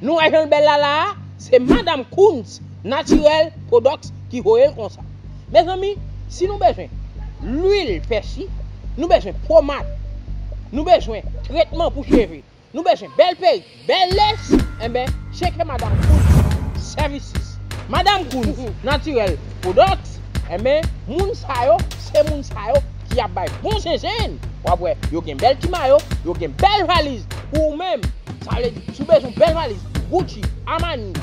Nou wè janl bèl la la a se madam Kunds naturel products ki voyel konsa mezanmi si nou bezwen lwil pèsi nou bezwen pomad nou bezwen tretman pou cheve Nou bezwen bèl perik, bèl lès, enben tcheke Madam Kunz services. Madam Kunz Naturel Products, enben moun sa yo se moun sa yo ki ap bay bon zenzenn, wap wè yo gen bèl ti mayo, yo gen bèl valiz pou ou menm, sa vle di si w bezwen yon bèl valiz Gucci, Armani,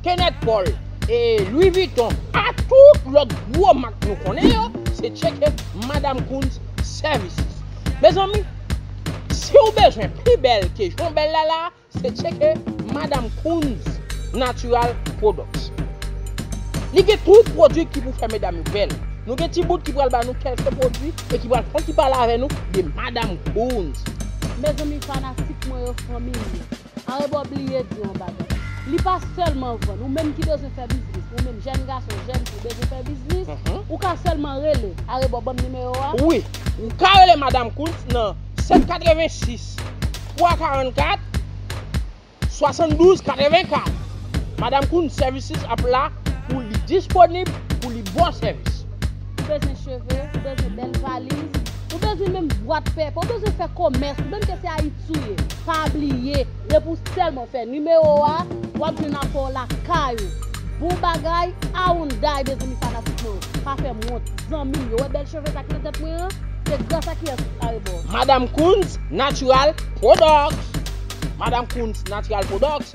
Kenneth Paul, Louis Vuitton a tout lòt gwo mak nou konnen yo, se tcheke Madam Kunz services. Mezanmi siw bezwen pi bèl ke jan w bèl la la se tcheke madam Kunz natural products li gen tout pwodwi ki pou fè medam yo bèl nou gen ti bout ki pral ba nou kelke pwodwi e ki pral fon ti pale avè nou de madam Kunz. Mezanmi fanatik mwen yo fanmim yo. Arebò bliye di yon bagay. Li pa sèlman vann. Ou menm ki bezwen fè biznis, ou menm jèn gason, jèn fi, bezwen fè biznis, ou ka sèlman rele. Arebò banm nimewo a. Wi. Ou ka rele Madam Kunth nan 786 344 72 84. Madam Kunth Services ap la pou li disponib pou li ba w sèvis. Ou bezwen cheve, ou bezwen bèl valiz, ou bezwen menm bwat pèpè, ou bezwen fè komès, ou menm ke se Ayiti. touye. Pa bliye depi w sèlman fè nimewo a wap jwenn apò w lakay ou. Bon bagay Awounday mezanmi fanatik mwen yo pa fèm wont zanmim yo wè bèl cheve sa ki nan tèt mwen an se gras a kiyès arebò. Madame Kunz natural products Madame Kunz natural products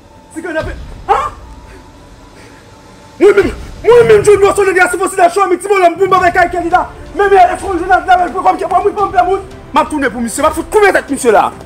Si kè n ape. Ha! Mwen menm, mwen menm John Noir Soleil Yacinthe Occident Chouamy ti bonòm pou m pa bay kay Kelly la. Menm e eskonn jounal la menm pou kòm kè pa moun pa m pè moun. M ap tounen pou misye, m ap fout koupe tèt misye la a.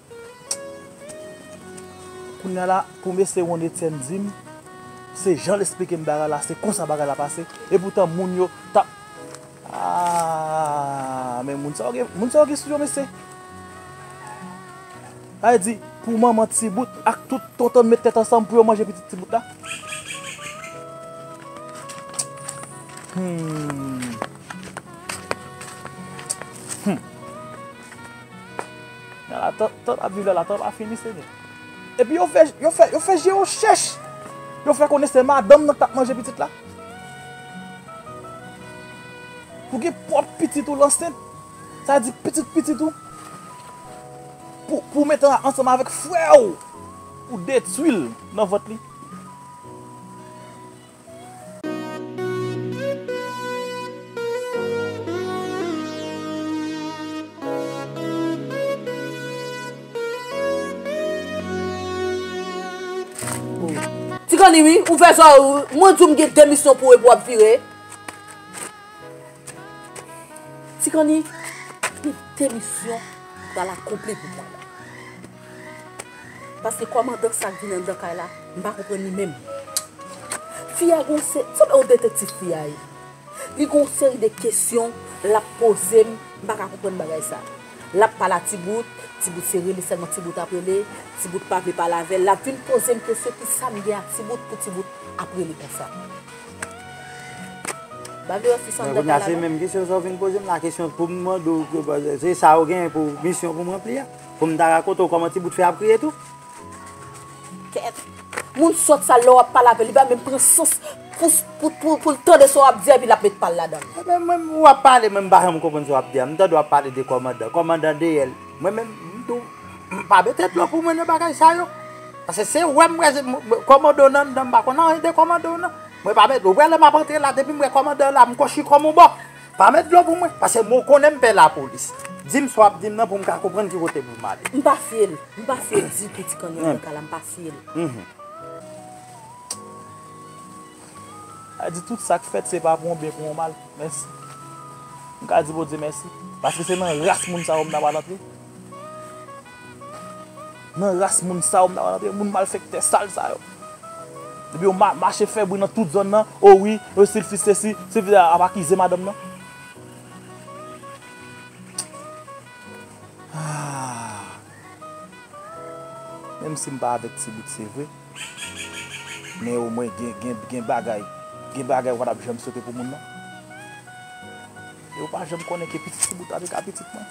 Kounya la pou mesye Ron Etienne dim se janl esplikem bagay la se konsa bagay la pase epoutan moun yo tap aah men moun sa yo gen moun sa yo gen sou yo mesye sa vle di pou manman ti bout ak tout tontonl met tèt ansanm pou yo manje pitit ti bout la humm humm. Latant ap viv la, latant pa fini senyè. Epi yo fè, yo fè, yo fè je yo chèch. Yo fè konnen se madanm nan k tap manje pitit la. Pou gen pwòp pitit ou l ansent, sa di pitit pitit ou, pou, pou mete l ansanm avèk frè ou, pou detwi l nan vant li. Ti kanni wi, ou fè sa ou, mwen di w m gen 2 misyon pou ou epi w ap vire. Ti kanni, m gen 2 misyon m pral akonpli pou mwen. Paske kòmandan sa k vin anndan kay la m pa konprann li menm. Fi a gon se, m sanble yon detektif fi a ye. Li gon seri de kesyon l ap poze m, m pa ka konprann bagay sa. L ap pale a ti bout, ti bout se rele sèlman ti bout ap rele, ti bout pa vle pale avè l, l ap vin poze m kesyon ki sa m gen ak ti bout pou ti bout ap rele konsa. Ba vle wè fi sa anndan kay la non. Men kounya se menm kesyon sa w vin poze m la, kesyon pou m mande w, se sa w gen pou misyon pou m ranpli a. Pou m ta rakonte w kòman ti bout fè ap kriye tou? Kèt! Moun sòt sa lè w ap pale avè l li pa menm pran sans pou l tande sa w ap di epi l ap met pa l ladan l. Mwen menm ou ap pale mwen m pa janm konprann sa w ap di a. M tande w ap pale de kòmandan. Kòmandan deyè l. Mwen menm m tou m pa mete dlo pou mwen nan bagay sa yo. Pase se wè m wè se kòmandan w nan anndan m pa konn anyen de kòmandan w nan. Mwen pa mete ou wè lè m ap antre la depi m wè kòmandan w la m kò chikòm on bò. Pa met dlo pou mwen, pase mwen konnen m pè lapolis. Di m sa w ap di m nan pou m ka konprann ki kote pou m ale. M pa fye l. M pa fye l ditou ti kanyon bòka la, m pa fye l. Sa vle di tout sa k fèt se pa pou yon byen pou yon mal. Mèsi. M ka di Bondye mèsi. Pase se nan ras moun sa yo m ta pral antre. Nan ras moun sa yo m ta konn antre moun malfektè sal sa yo. Depi yo mache fè bri nan tout zòn nan o wi yo sil fis sesi sil fis ap akize madanm nan. Menm si m pa avèk ti bout se vre men o mwen gen bagay gen bagay ou pa tap janm swete pou moun nan. Yo pa janm konnen ke pitit ti bout avek a pitit mwen.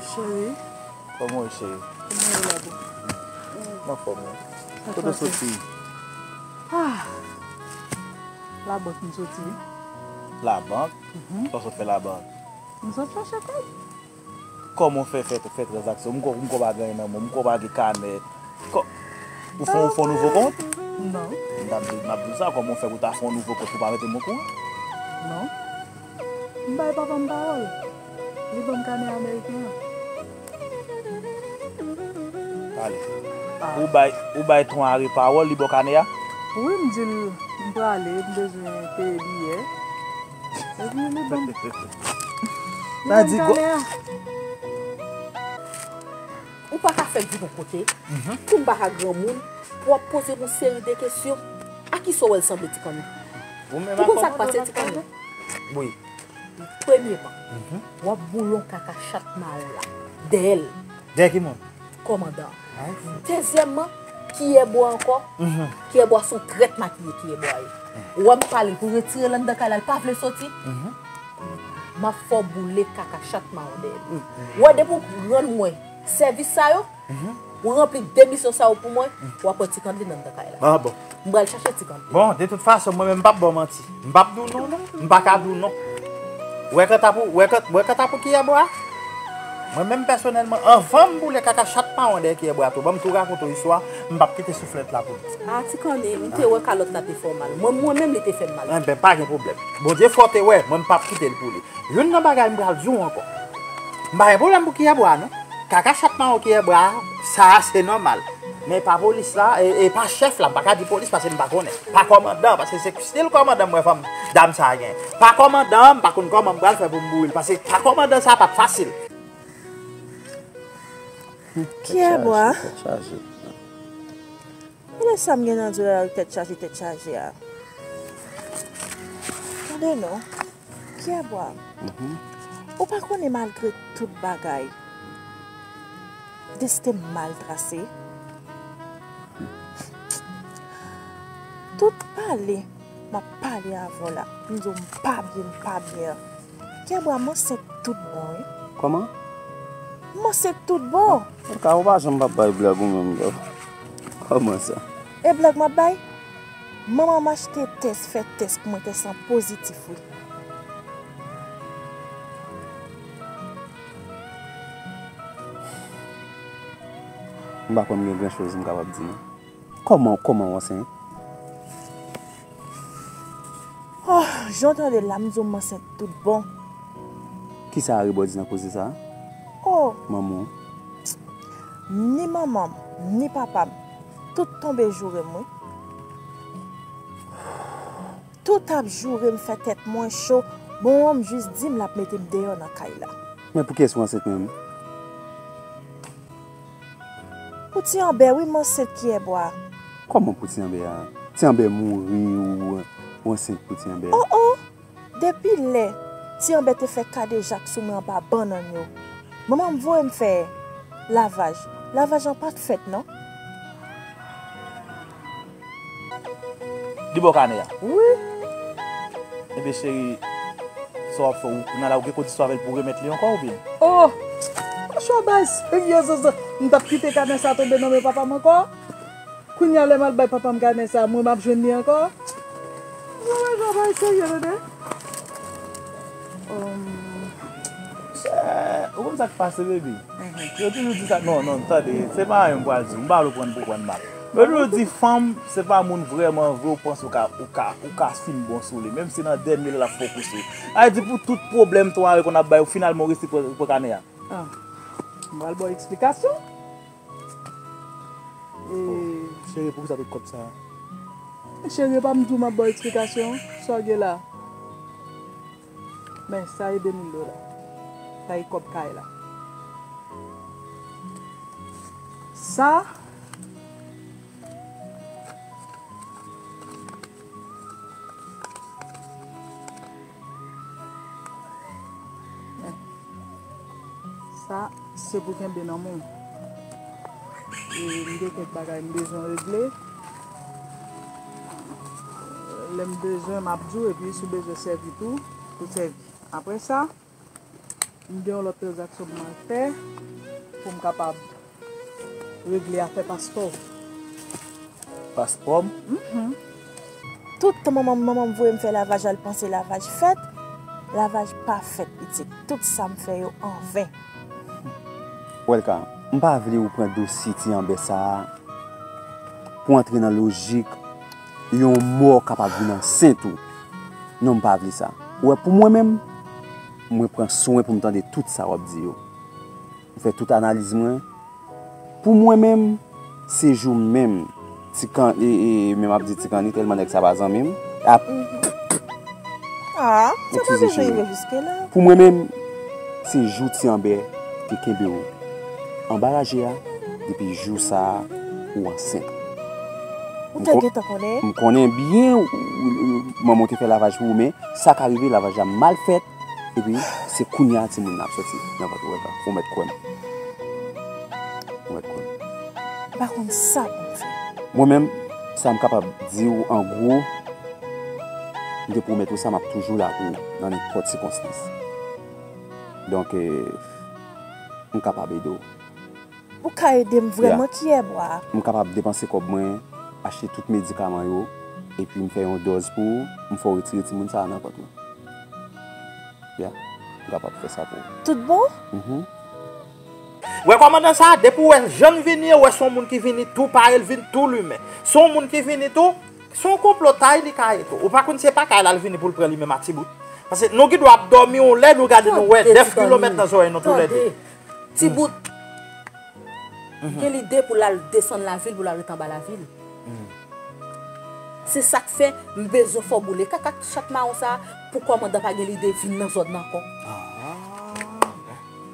Cheri. Koman ou ye cheri? Koman ou la boo? Mwen anfom wi. Kote ou soti? Ah! La bank m soti. La bank? Kisa ou sot fè la bank? M sot chache kob. Koman ou fè fè transaksyon? M kwè ou pa gen anyen nan men w. M kwè ou pa gen kanè. Ou fè yon nouvo kont? Non. M ta di w sa. Koman ou fè pou w ta fè yon nouvo kont pou w pa mete m okouran? Non. M bay papa m pawòl. Li ban m kanè ameriken an. Tande. Ou bay ton Ari pawòl, li ba w kanè a? Wi, m di l m prale, m bezwen peye biyè. Ou pa ka fèk di bon kote, kou m pa ka granmoun, pou wap poze m yon seri de kesyon. A ki sa w wè l sanble ti kannè? Ou konn sa k pase ti kannè? Premyeman, wap boulon kaka chat maron la dèyè l. Dèyè ki moun? Komandan. Dezyèmman, Kiyèbwa ankò? Kiyèbwa son trèt makiye Kiyèbwa ye. Ou wè m pale pou retire l anndan kay la, l pa vle soti? M ap fè w boule kaka chat mawodè l. Ou wè depi w rann mwen sèvis sa yo, ou ranpli de misyon sa yo pou mwen, w ap wè ti Kandlin anndan kay la. M pral chache ti kanpe. Bon, de tout fason, mwen menm m pap ba w manti. M pap di w non non. M pa ka di w non. Ou wè kanta pou, ou wè kanta, ou wè kanta pou kiyèbwa a? Mwen menm pèsonèlman, anvan m boule kaka chat mawon dèyè kiyèbwa a tou, ban m tou rakonte w istwa a, m pap kite souflèt la pou li. A, ti kanpe, m te wè kalòt la te fè w mal. Mwen mwen menm li te fè m mal tou. Enben, pa gen pwoblèm. Bondye fè w te wè, mwen m pap kite l pou li. Youn nan bagay m pral di w ankò. M pa gen pwoblèm pou kiyèbwa a non. Kaka chat mawon kiyèbwa a. Sa a se nòmal. Men pa polis la, e pa chèf la, m pa ka di polis pase m pa konnen. Pa kòmandan an, pase se stil kòmandan m wè fanm dam sa a genyen. Pa kòmandan an, m pa konn kòman m pral fè pou m boure l, pase pa kòmandan sa a pa t fasil. Pyè Bwa, Gade sa m gen nan dwèl tèt chaje tèt chaje a. Tande non. Pierre Bois, ou pa konnen malgre tout bagay, desten m mal trase? Tout pale m ap pale avè w la, m di w m pa byen, m pa byen an. Pierre Bois, m ansent tout bon wi. Kòman? M ansent tout bon. Ou pa janm pa bay blag ou menm, Pierre Bois. Kòman sa? E blag m ap bay? Manman machte tès fè tès pou mwen tès lan pozitif wi. M pa konn gen gran choz m kapab di non. Koman koman w ansent? Ohh jan w tande l la m di w m ansent tout bon. Kisa Arebò di nan koze sa? Ohh! Manman w? Ni manman m ni papa m. Tout tonbe joure m wi. Tout ap joure m fè tèt mwen cho bon an m jis di m l ap mete m deyò nan kay la. Men pou kiyès ou ansent menm? Pou ti anbè wi m ansent kiyè bwa. Kòman pou ti anbè a? Ti anbè mouri ou ansent pou ti anbè? Oh oh! Depi lè Ti Anbè te fè kadejak sou mwen anba bannann yo, manman m voye m fè lavaj. Lavaj lan pa t fèt non. Li bò kanè a? Wi. Enben cheri, sa w ap fè? Ou nan la ou gen kondisyon avè l pou w remèt li ankò oubyen? O! Machwa bay serye zozo! M pa t kite kanè sa tonbe nan men papa m ankò. Kounya lèm al bay papam kanè sa mwen map jwenn li ankò mwen wè jan bagay serye tande oomm. Ou konn sak pase baby yo toujou di sa non non tande se pa anyen m pral diw m pa vle prann pou prann mal yo toujou di fanm se pa moun vrèman vre ou panse ou ka ou ka ou ka fin bon sou li menm si nan dènye l lap fè w kous ou sa vle di pou tout pwoblèm 3 yo konn ap bay ou finalman ou resi pran kanè a m pral baw eksplikasyon. Chérie pou kisa tout kòb sa. Chérie epa m diw map baw eksplikasyon sa w gen la men sa e 2000 dola sa e kòb kay la sa. Sa se pou kenbe nan men. E m gen kèk bagay m bezwen regle. Lè m bezwen m ap di w epi si w bezwen sèvi tou, ou sèvi. Apre sa. M gen yon lòt tranzaksyon pou mwen fè pou m kapab regle afè paspò. Paspò m? Mh. Tout tan manman m voye m fè lavaj la l panse lavaj fèt. Lavaj pa fèt pitit. Tout sa m fè yo anven. Welka, m pa vle ou pran dosye ti anbè sa a pou antre nan lojik. Yon mò kapab vin ansent tou. Non m pa vle sa. Ou wè pou mwen menm, mwen pran swen pou m tande tout sa w ap di yo. M fè tout analiz mwen. Pou mwen menm, se jou menm ti kan e e menm ap di ti kanni tèlman nèg sa pa zanmi m. Ap ppp. A, sa pa bezwen rive jiske la. Pou mwen menm, se jou ti Anbè te kenbe w anba raje a depi jou sa ou ansent. Ou te gentan konnen? M konnen byen manman w te fè lavaj pou ou men sa ka rive lavaj la mal fèt epi se kounye a timoun nan ap soti nan vant ou Olga. Ou mèt kwè m. Ou mèt kwè m. M pa konn sa pou m fè. Mwen menm, sa m kapab di ou an gwo, m te pwomèt ou sa m ap toujou la pou ou nan nenpòt sikonstans. Donk, m kapab ede w. Ou ka ede m vrèman kiyè bwa a. M kapab depanse kòb mwen, achte tout medikaman yo, epi m fè yon dòz pou ou, m fè w retire timoun sa a nan vant mwen. Ya, m kapab fè sa pou ou. Tout bon? Mh. Wè kòmandan sa a, depi w wè l jan l vini, ou wè se yon moun ki vini tou pare, l vin tou limen. Se yon moun ki vini tou, se yon konplotay li ka ye tou. Ou pa konn se pa kay la l vini pou l pran li menm a ti bout. Pase nou gendwa ap dòmi yon lè, nou gade nou wè 9 kilomèt nan zòrèy nou toulède. Ti bout gen lide pou l al desann lavil pou l al ret anba lavil. Se sa k fè m bezwen fè w boule kaka ak ti chat mawon sa a pou kòmandan pa gen lide vin nan zòn nan ankò.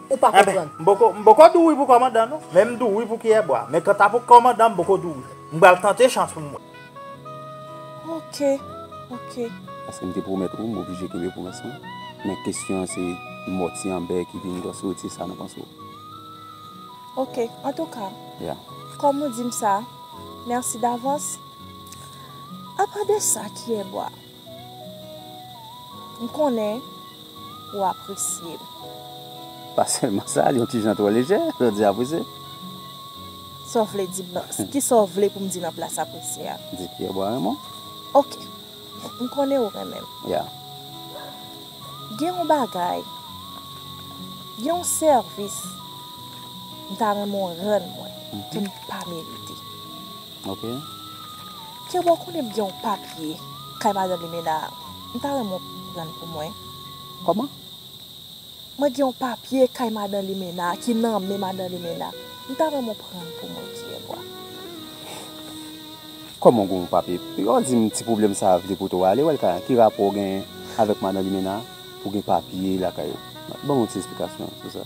Ou pa konprann. M poko dou wi pou kòmandan non, men m dou wi pou kiyèbwa. Men kanta pou kòmandan m poko dou wi. M pral tante chans pou m wè. Ok, ok. Paske m te pwomèt ou, m oblije kenbe pwomès mwen. Men kesyon an se mò ti Anbè ki vin dòse ou ti sa nan panse w. Ok, antouka. Ya. Kòm ou di m sa, mèsi davans. Apa de sa, kiyè bwa? M konnen ou apresye m. Pa sèlman sa, l yon ti jan twò lejè, lè w di apresye. Sa w vle di m nan? Ki sa w vle pou m di nan plas apresye a? Di Pyèbwa renmen w. Ok. M konnen ou renmen m. Ya. Gen yon bagay, gen yon sèvis m ta renmen w rann mwen, ke m pa merite. Ok. Keba ou konnen m gen yon papye kay madan limena a m ta renmen w pranl pou mwen. Koman? Mwen gen yon papye kay madan limena a ki nan men madan limena m ta renmen w pranl pou mwen kyèbwa. Koman ou gen yon papye e wap di m ti pwoblèm sa vle pote w ale wè l kay an ki rapò ou genyen avèk madan limena pou gen papye lakay ou banm yon ti esplikasyon sou sa.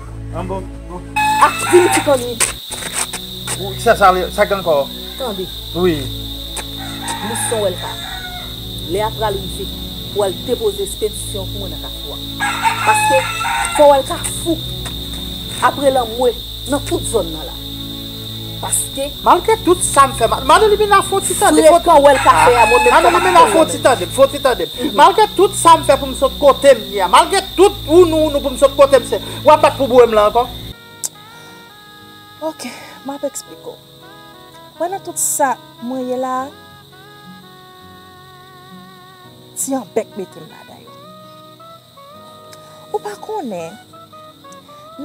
An bon. Ah, vin isit an li. Ou sa sa li, sa gen kò. Tande. Wi. Mwen son wèl ka. Lè a pral rive pou al depoze espedisyon pou mwen nan kafou a. Paske fò wèl ka fou apre lanmwe nan tout zòn nan la. Paske. Malgre tout sa m fè mal. Madame Limena fon ti tande. Frekan wè l ka fè a mwen menm Madame Limena fon ti tande m fon ti tande m Malgre tout sa m fè pou m sot kote m ye a Malgre tout wounou wounou pou m sot kote m se W ap bat pou boure m la ankò Ok m ap eksplike w Wè nan tout sa mwen ye la a Ti anbèk mete m ladan yo. Ou pa konnen,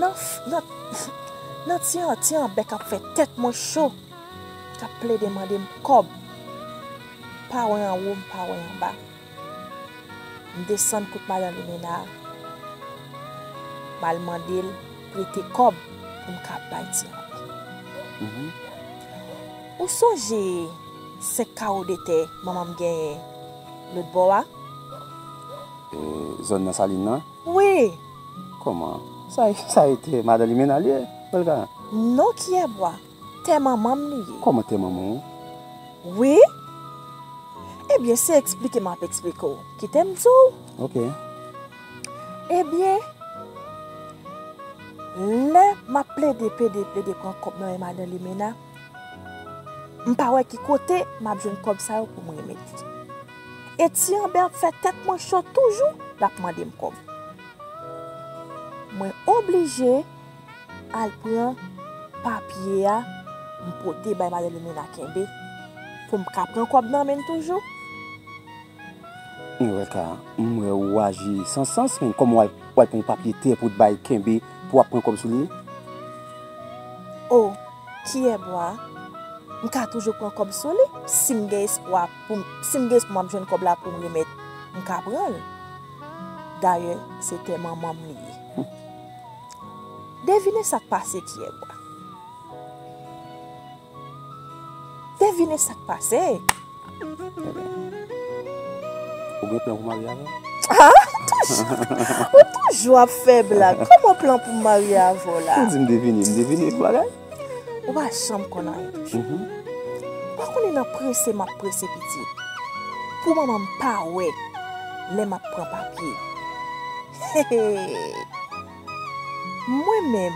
nan, nan, nan ti an, ti an bèk ap fè tèt mwen cho, k ap plede mande m kòb. M pa wè anwo, m pa wè anba. M desann kot Madan Limena a, m al mande l prete kòb pou m ka bay ti an bèk. Ou sonje senk kawo de tè manman m genyen lòtbò a? Zòn nan Salin nan? Wi! Kòman? Sa e tè Madan Limena li ye, Olga? Non, Kyèbwa. Tè manman m li ye. Kòman tè manman w? Wi! Ebyen, se eksplike m ap eksplike w. Kite m di w. Ok. Ebyen, lè m ap plede, plede, plede pran kòb nan men Madan Limena, m pa wè ki kote m ap jwenn kòb sa yo pou m remèt li. E ti anbè ap fè tèt mwen cho toujou lap mande m kob. Mwen oblije al pran papye a m pote bay madanm Limena kenbe pou m ka pran kob nan men l toujou. Eureka, m wè ou aji san sans men koman w al pran yon papye tè pou w t bay kenbe pou w ap pran kob sou li? Oh, kiyè bwa a, m ka toujou pran kob sou li si m gen espwa. Pou si m gen espo m ap jwenn kòb la pou m remèt, m ka pran l. Dayè, se tè manman m li ye. Devine sa k pase Pyègwa? Devine sa k pase? Ou gen plan pou marye avè m? A! Ou toujou ap fè blag. Kòman plan pou m marye avè w la? Ou di m devine, m devine yon bagay? Ou pa janm konn anyen toujou. Ou pa konnen nan prese m ap prese pitit pou manman m pa wè lè m ap pran papye. Mwen menm,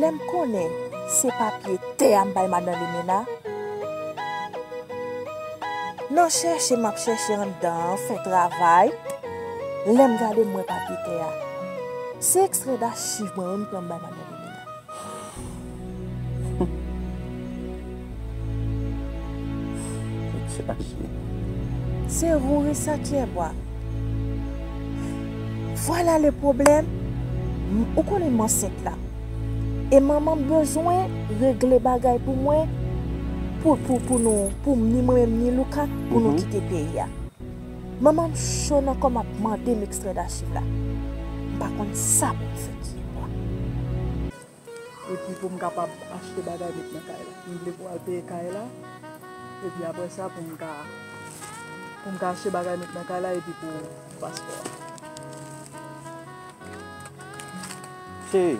lè m konnen se papye tè a m bay madan Limena, nan chèche m ap chèche anndan an, fè travay, lè m gade m wè papye tè a. Se ekstrè dachiv mwen wi m pran m bay madan Limena. Se ou wi sa Tyèbwa Vwala le pwoblèm Ou konnen m ansent la E manman m bezwen regle bagay pou mwen Pou nou Pou m ni mwen menm ni Louka Pou nou kite peyi a Manman m cho nan kò m ap mande m ekstrè dachiv la. M pa konn sa pou m fè ki bò. Epi pou m kapab achte bagay met nan kay la. M vle pou al peye kay la. Epi apre sa pou m ka pou m ka achte bagay met nan kay la epi pou paspò a. Cheri.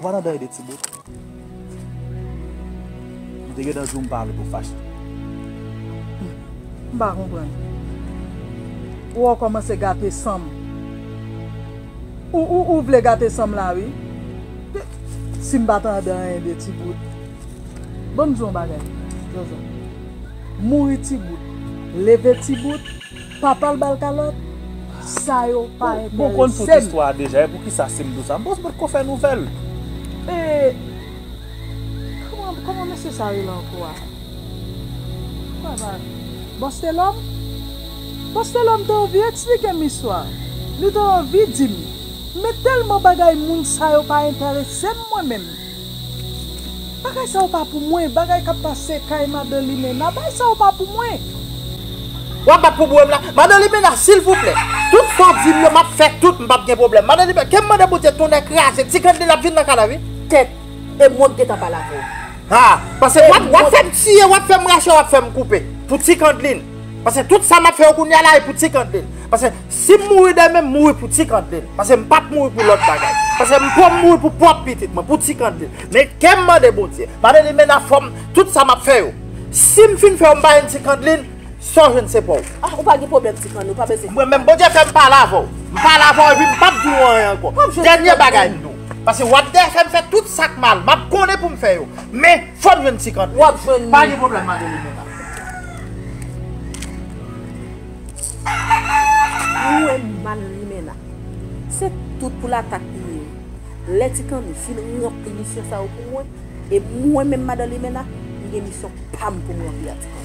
Vwa nan dèy de ti bout. M te gentan di w m pa vle pou w fache. M pa konprann. Ou wè w kòmanse gate san m. Ou vle gate san m la wi. Si m pa tande anyen de ti bout. Ban m di w yon bagay, Jojo. Mouri ti bout. Leve ti bout. Papal bal kalòt? Sa yo pa enteresem. Bon konn tout istwa a deja epoukisa simdou sa bon se potko fè nouvèl. Eee Koman mesye sa rele ankò a Bostelòm Bostelòm te anvi eksplikem istwa a Li te anvi dim Men tèlman bagay moun sa yo pa enteresem mwen menm. Bagay sa yo pa pou mwen. Bagay kap pase kay madan limena. Bagay sa yo pa pou mwen. Wap bat pou bouwem la. Madan limena silvouplè. Tout sa ou dim yo map fè tout m pap gen pwoblèm. Madan limena kem mande bondye tonnè kraze ti grann li lap vin nan kanav wi. Tèt. E mwenk gentan pale avèw. Ha. Pase wap fèm tiye wap fèm rache wap fèm koupe. Pou ti kandlin. Pase tout sa map fè yo kounya la e pou ti kandlin. Pase. Si m mouri demen m mouri pou Tikandlin paske m pap mouri pou lòt bagay paske m pwòp mouri pou pwòp pitit mwen pou Tikandlin men kèm mande Bondye mande li mena fòm tout sa map fè yo si m fin fè yo m pa jwenn Tikandlin sa w jwenn se pa w. Ah ou pa gen pwoblèm Tikanlin ou pa bezwen. Mwen menm Bondye fèm pale avè w m pale avè w epi m pap di w anyen ankò dènye bagay m di w paske wap dèyè fè m fè tout sak mal map konnen pou m fè yo men fòm jwenn Tikandlin pa gen pwoblèm Madeline mena. Ou wè m mal limena. Se tout pou latak li ye lè ti kanni fin ranpli misyon sa yo pou mwen e mwen menm madan limena m gen misyon pam pou m ranpli a ti kanni.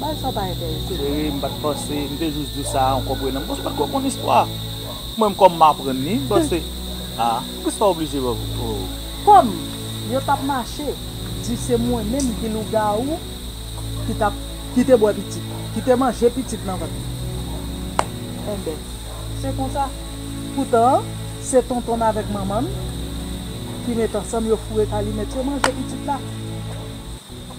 Bagay sa yo pa entèrese m non. M pat panse, m te jus di sa an konprenan m paske m pat ko konn istwa a. Mwen m kòm m aprann li m panse a poukisa sa oblije oh. Kòm yo tap mache di se mwen menm ki lougawou ki tap ki te bwè pitit ki te manje pitit nan vant li enben se konsa poutan se tonton n avèk manman n ki met ansanm yo foure kalimèt yo manje pitit la.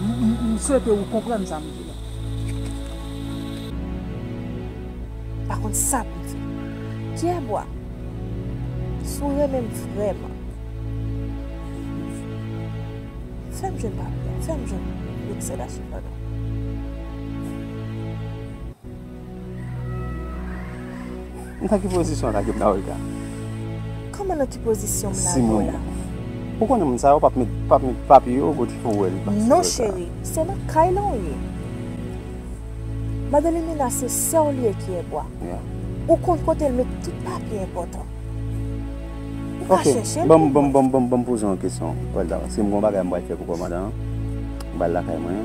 M swete ou konprann sa m di la. M pa konn sa pou m fè. Pierre-Bois, Si w renmen m vrèman, fè m jwenn papye a, fè m jwenn Bruxelles a sepandan. Nan ki pozisyon sa ke m ta wè l ka? Kòman nan ki pozisyon m la wè l la? Ou konnen moun sa yo pap met papye yo kote pou wè l la. Non cheri, se nan kay lan w ye. Madanm Mina se sè w li ye ki ebwa. Ou konn kote l met tout papye enpòtan. Ou ka chèche l pou mwen. Ok, ban m poze yon kesyon. Wè l ta wè. Si m gen yon bagay m pral fè pou kòmandan an, m pral lakay mwen.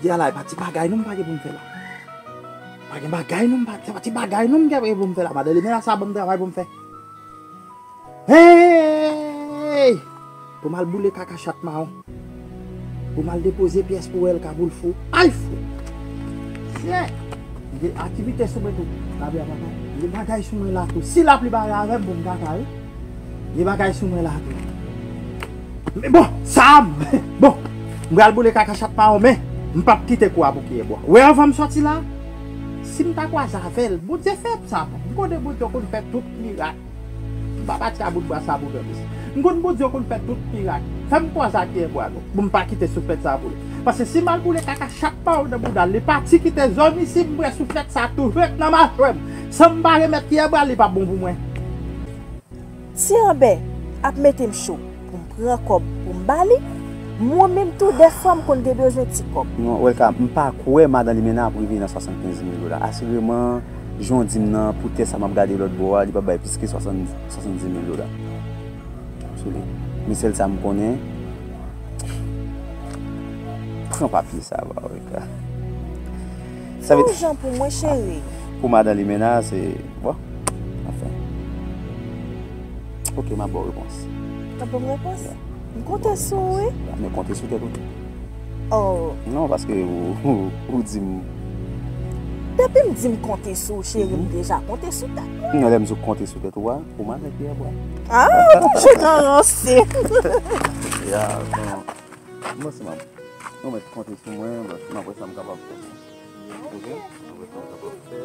Jodi a la e pa ti bagay non m pa gen pou m fè la. Pa gen bagay non m pa, se pa ti bagay non m gen pou m fè la. Madan Limena sa banm travay pou m fè. Hey! Pou m al boule kaka chat mawon. Pou m al depoze pyès pou El Kabulfou. Ay fou! Sye! Gen aktivite sou mwen tou. Lapli a pa ka. Gen bagay sou mwen la tou. Si lapli pa ale avè m pou m ka ka wi. Gen bagay sou mwen la tou. Men bon! Sa a m. Bon! M pral boule kaka chat mawon men, m p ap kite kou a pou kiye bwa. Ou wè anvan m sòti la a, si m ta kwaze avè l, Bondye fè m sa. M konnen Bondye konn fè tout mirak. M pa pati a bout bwa sa pou fè plis. M konn Bondye ou konn fè tout mirak. Fè m pwan sa ki en bwa nou pou m pa kite souflèt sa boule. Pase si m al boule kaka chat pa ou nan bouda l li pati kite zòn isi m pran souflèt sa tou ret nan machwè m san m pa remèt ki en bwa l li pap bon pou mwen. Ti Anbè ap mete m cho. pou m pran kòb pou m ba li, mwen menm tou dèfwa m konn te bezwen ti kòb. Welka, M pa kwè madan Limena ap rive nan 75 mil dola. Asireman, jan w di m nan, pou tè sa m ap gade lòtbò a, li p ap bay plis ke 70 mil dola sou li. Men sèl sa m konnen, pran papye sa a ba Welka. Sa vle. Fè yon jan pou mwen, cheri. Pou madan Limena, se, bon, anfen. Ok, map baw repons. Wap banm repons? M konte sou ou wi. Men konte sou tèt ou tou. Oh. Non, paske ou di m. Depi m di m konte sou ou cheri m deja konte sou tèt mwen. Non, lè m di w konte sou tèt ou a, ou mande m piye bwa. Ah, ou toujou nan ranse. Ya, bon. Mwen se map. Ou met konte sou mwen, map wè sa m kapab fè. Ok? Mwen wè sa m kapab fè.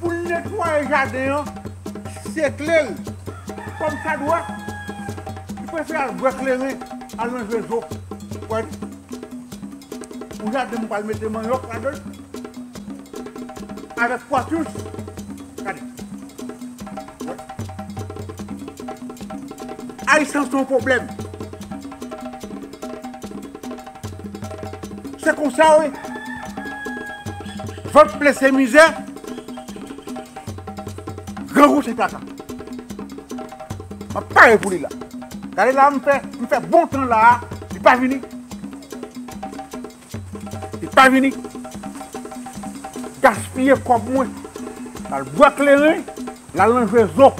Pou n netwaye jaden an, sekle l kòmsadwa, li prefere al bwè kleren, al nan jwe zo. Ou wè li? Yon jaden m pral mete manyòk ladan l avèk kwatous. Gade! Ou wè? Ayisan se yon pwoblèm. Se konsa wi. Vant plen se mizè. Grangou se kaka. Map pare pou li la. Gade la m fè, m fè bon tan la a, li pa vini. Li pa vini. Gaspiye kòb mwen. Lal bwa kleren, lal nan jwe zo.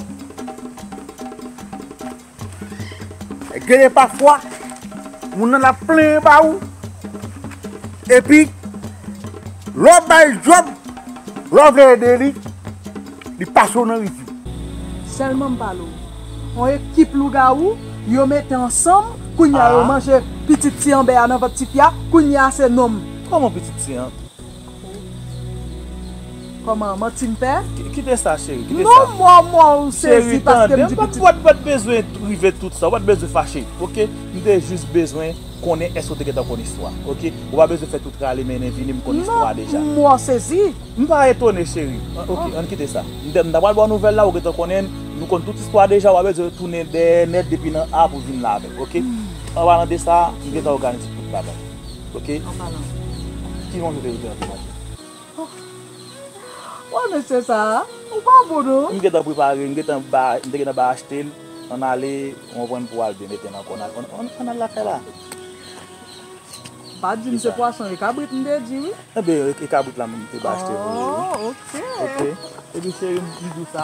Genyen pafwa, moun nan ap plenyen ba ou, epi, lè w ba l djòb, lè w vle ede li, li pase w nan rizib. Sèlman m pale w, yon ekip lougawou, yo mete ansanm, kounye a yo manje pitit ti Anbè a nan vant ti fi a, kounye a se non m. Kòman pitit ti an? Koman manti m fè? Kite sa cheri, kite sa. Non mò mò ou sezi paske m di pitit. Cheri tande m, ou pat bezwen rive tout sa, ou pat bezwen fache ok, m te jis bezwen konnen èske ou te gentan konn istwa ok, ou pa bezwen fè tout rale mennen vini m konn istwa a deja. Non mò sezi. M pa etone cheri, ok ann kite sa. M ta pral ba w nouvèl la ou gentan konnen, nou konn tout istwa a deja, ou pa bezwen tounen dèyè nèt depi nan A pou vin nan avèk ok. Anpalan de sa, m gentan òganize tout bagay. Ok Ki moun ou te rete nan ti machin an? Wè mesye sa a Ou pa bon non M gentan prepare m gentan bay m te gentan bay achte l Ann ale ou konprann pou al byen mete nan kò n Ann al lakay la M pa t di m se pwason e kabrit m te di wi Ebyen e kabrit la m te bay achte vre wi Ok Ebyen cheri m di w sa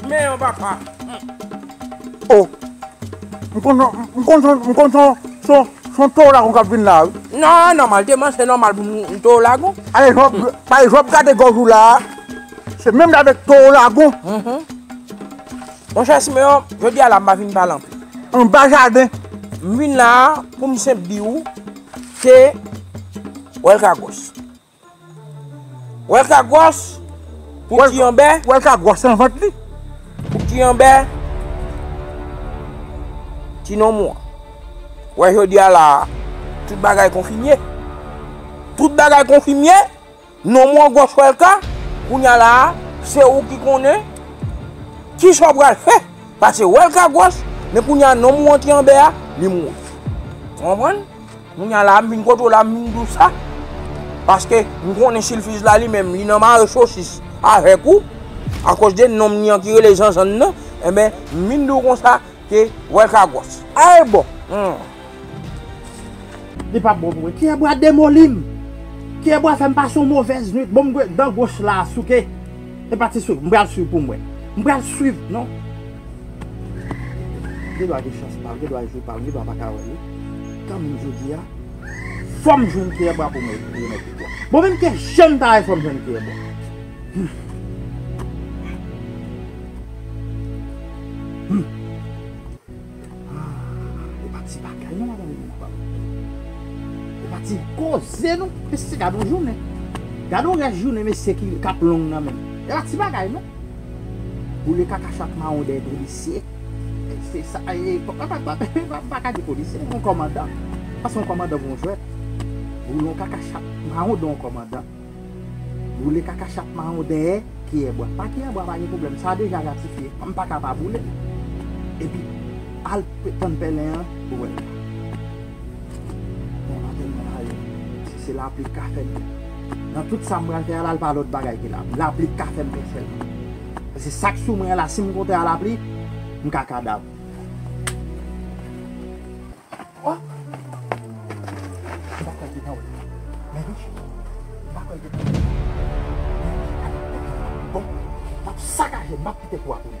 Fme yon papa. Oh m konn son m konn son m konn son son son towo lagon kap vin la wi. Nan nòmal te man se nòmal pou m towo lagon. Alezanp pa ezanp gade gòj ou la a se menm jan avèk towo lagon. Monchè Simeon jodi a la m pa vin pale anpil. Anba jaden. M vin la a pou m senp di ou ke wèl ka gwòs. Welka gwòs pou ti yon bè. Welka gwòs nan vant li. Pou ti yon bè. Ti nonm ou an. Wè jodi a la a. Tout bagay konfimye. Tout bagay konfimye. Nonm ou an gwòs welka. Kounye a la a. Se ou ki konnen. Ki sa ou pral fè. Pase welka gwòs. Men kounye a nonm ou an ti yon bè a. Li mouri. Ou konprann? Kounya la m vin kote w la m vin di w sa paske m konnen silfiz la li menm li nan mare sosis avèk ou akòz de nonm li an ki rele Janjann nan enben m vin di w konsa ke wèlka gwòs a e bon humm. Li pap bon pou mwen. Kyè bwa demoli m. Kyè bwa fè m pase yon movèz nwit. Bon m gwe dan goch la souke. E pati souke. M pral swiv pou m wè. M pral swiv non. Gen dwa gen chans pal, gen dwa jwe pal, gen dwa pa ka wè li. Kanmenm jodi a, fòm jwenn kiyè bwa pou mwen remèt li bwa. Bon menm ke janm ta wè fòm jwenn kiyè bwa. Humm. Humm. Aah, e pa ti bagay non madanm nan pam. E pa ti koze non. Mesye gad yon jounen. Gad yon rès jounen mesye kap long nan menm. E pa ti bagay non. Boule kaka chat mawon dèyè polisye. Se sa ye. M pa ka di polisye. Yon kòmandan. Pase yon kòmandan pou yon jwèt. Boule yon kaka chat mawon dèyè yon kòmandan. Boule kaka chat mawon dèyè kiyè bwa. Pa kiyè bwa pa gen pwoblèm. Sa deja ratifye. M pa ka pa boule l. Epi al tann pèlen an pou w wè l. Bon maten mwen la wi. Si se lapli k ka fè m. Nan tout sa m pral fè a la l pa lòt bagay ke lapli. Lapli k ka fè m fè sèlman. Paske sa k sou mwen an la si m konte a lapli, m ka kadav. O! M pa kwè l te nan wè m. Men wi. M pa kwè l te nan wè m. Men wi. Bon, m ap sakaje l. M ap kite kou a pou li.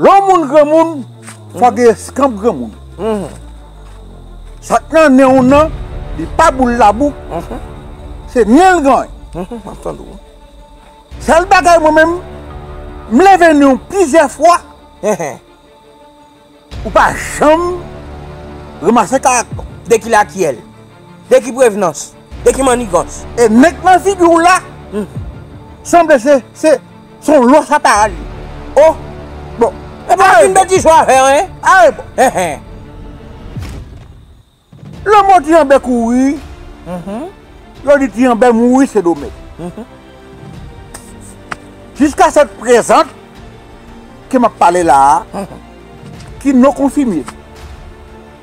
Lè yon moun granmoun, fòk gen eskanp granmoun. Sak nan nen w nan, li pa boul labou, se nen l gen. Sèl bagay mwen menm, m leve nen w plizyè fwa, ou pa janm ranmase karaktè w. Dèkile akyèl. De ki prevenans? De ki manigans? E nèg nan figi w la sanble se yon lòs apa a li. O! Bon. E pa fin betiz ou a fè an en? A e bon. Hen hen. Lanmò ti Anbè kouri, yo di ti Anbè mouri Sendomeng. Jiska sèt prezan ke m ap pale la a, ki non konfime.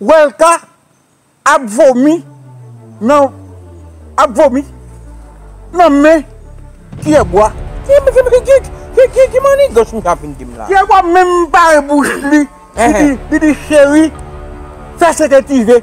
Welca ap vomi nan ap vomi nan men kiyè bwa. Ki manigans misye ap vin dim la. Kiyè bwa menm pa e bouch li li di cheri fè sete tive.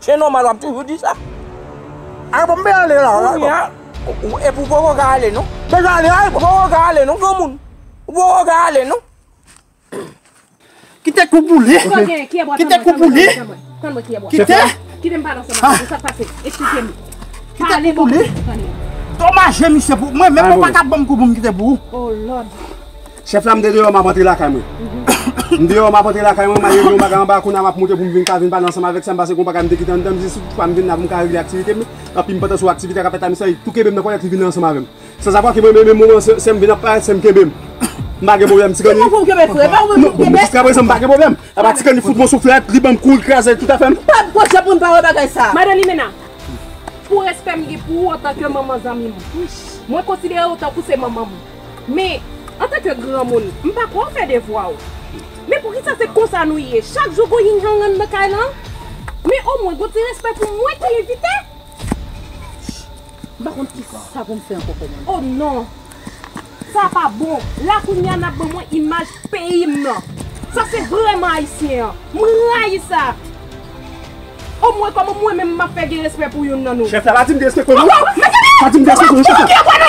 Se nòmal wap toujou di sa. Ayy bon mpe ale la. Kounya epi ou poko ka ale non. Deja ale ayy bon. Ou poko ka ale non granmoun. Ou poko ka ale non. Kite kou pou li. Kite kou pou li. Kite. Kite mpale ansanm avèw. Sa pase. Esplike m. Kite kou pou li. Domaje misye pou mwen menm ou paka banm kou poum kite pou ou. Oh lord. Chef la m te deyo map antre lakay mwen M deyo map antre lakay mwen m al regle yon bagay anba kounya map moute poum vin ka vin pale ansanm avèk sa m pase gon bagay m te kite anndan m di si tout fwa m vin la poum ka regle aktivite m yo anpi m pantan sou aktivite kap fèt la misye tou kenbem nan kòlèt li vini ansanm avèm san sa pa kenbem menm yon moman sèm vin ap parèt sèm kenbem m pa gen pwoblèm ti kèn li non jiska prezan m pa gen pwoblèm apa ti kèn li fout mwen souflèt li banm kou li kraze tout afèm. Madan Limena pou respè m gen pou ou antanke manman zanmi m mwen konsidere ou tankou se manman m. Men, antanke granmoun, m pa kwè w fè devwa w. Men poukisa se konsa nou ye? Chak jou gon ying yang anndan kay lan? Men omwen gon ti respè pou mwen ki envite! M pa konn kisa pou m fè ankò kòmandan. O non! Sa a pa bon! La kounye a n ap ban mwen imaj peyi m nan. Sa se vrèman ayisyen an. M rayi sa! O mwen koman mwen menm map fe gen respe pou youn nan nou. Chef la pa dim gen respe pou nou. Pa dim gen respe pou nou chef la.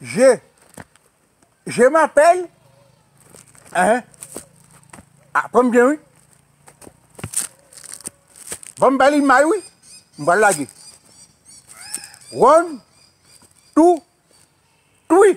Je Je m'appelle Hein Ah pranm byen wi Banm bal imay wi M pral lage One Two Three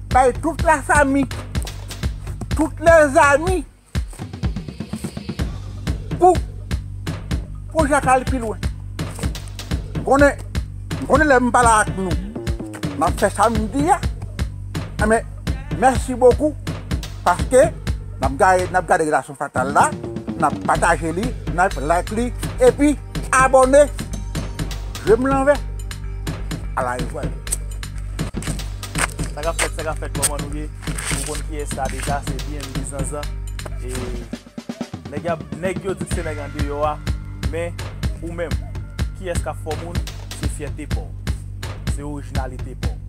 Bay tout la fami, tout lè zami pou pwojè a ka al pi lwen. M konnen, m konnen lè m pa la ak nou m ap fè sa m di a men mèsi bokou paske n ap gade, n ap gade la. Femme Fatale la, nap pataje li, nap like li, epi abone! Je m lanvè, ala yo jwenn. Sa kap fèt, sa kap fèt, kòman nou ye? Ou konn kiyès la deja, se BMD Zanzan. E nèg yap, nèg yo di k se nèg andeyò a, men ou menm, kiyès kap fè w moun? Se fyète pa w. Se orijinalite pa w.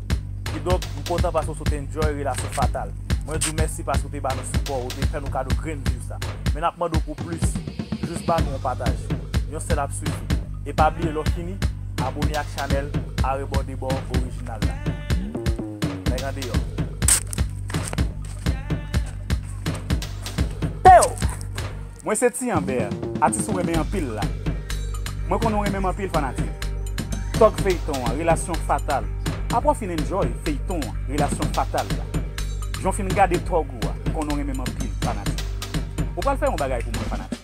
Kidonk, m kontan pase w sot enjoy relasyon fatal. Mwen di w mèsi paske w te ba nou sipò, ou te fè nou kado grenn viv sa. Men nap mande w pou plis, jis ba nou yon pataj, yon sèl ap sifi. E pa bliye lè w fini, abone ak chanèl Arebòdebò Original la. Nèg andeyò. Pew! Mwen se Ti Anber, atis ou renmen anpil la. Mwen konnen w renmen m anpil fanatik. Tòg feyton an, relasyon fatal. Aprè w fin enjoy feyton an, relasyon fatal la. Jan w fin gade tòg ou a, m konnen w renmen m anpil fanatik. Ou pral fè yon bagay pou mwen fanatik.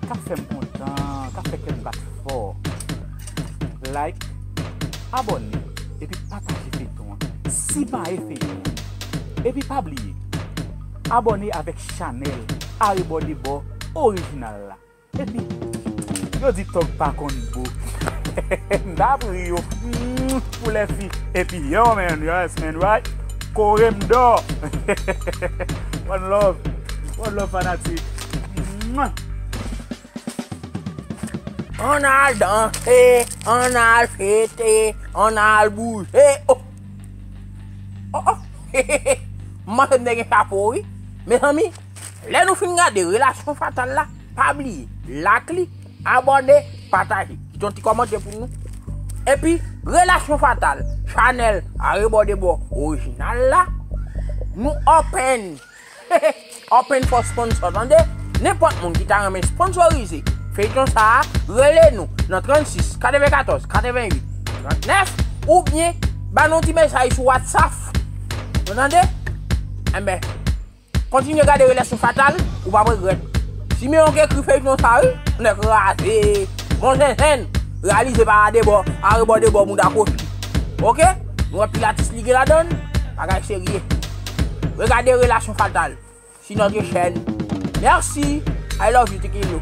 Kap fè m kontan, kap fè kè m bat fò. Like, abòne, epi pataje feyton an. Simaye feyton an. Epi pa bliye. Abòne avèk chanèl arebòdebò orijinal la epi Yo di tòg pa konn bo M ta ap ri yo pou lèfi epi Yow man yes man right kore m dò One love One love fanatik. Ann al danse, ann al fete, ann al bouje oh. Oh oh M panse m te gen chapo wi Mezanmi lè nou fin gade relasyon fatal la pa bliye lak li abòne pataje kite yon ti kòmante pou nou epi relasyon fatal chanèl arebòdebò orijinal la nou open. Open for sponsor tande Nenpòt moun ki ta renmen sponsorize feyton sa a rele nou nan 36 94 88 39 oubyen ba nou ti mesaj sou whatsaff nou tande Enben kontinye gade relasyon fatal ou pap regrèt Simeon ki ekri feyton sa wi nèg raze bon zenzenn reyalize pa arebò arebò debò mouda kochon ok nou wè pil atis li gen ladann bagay serye. Regade relasyon fatal su notre chèn merci I love you tiki lou.